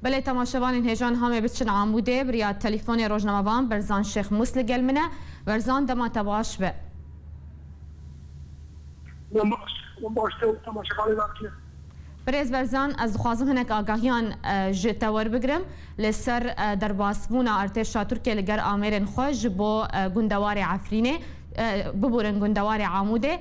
Belê temaşevanên hêjan Hamê biçin Amûdê, birîya telîfonê rojnamevan Berzan Şêx Mûs li gel min e. Berzan dema te baş be. Min baş, min baş te û temaşevanê nas kir. Birêz Berzan ez dixwazim hinek agahiyan ji te werbigirim li ser derbasbûna artêşa Tirkiyê li ger amêrên xwe ji bo gundewarê Efrînê, biburin gundewarê Amûdê.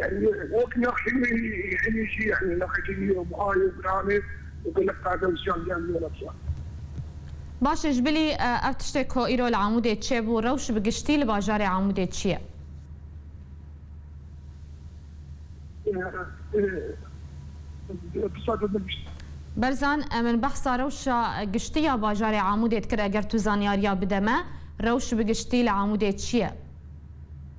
yanî wek nexşê wî hinî jî yanî nexekî wî yo buha yo giranê û gelek qade û ziyan dîyan wî Elexya. Baş e ji bilî ev tiştê ku îro li Amûdê çêbû rewş bi giştî li bajarê Amûdê çi ye? Berzan e min behsa rewşa giştî ya bajarê Amûdê dikir eger tu zanyariya bide me rewş bi giştî li Amûdê çi ye?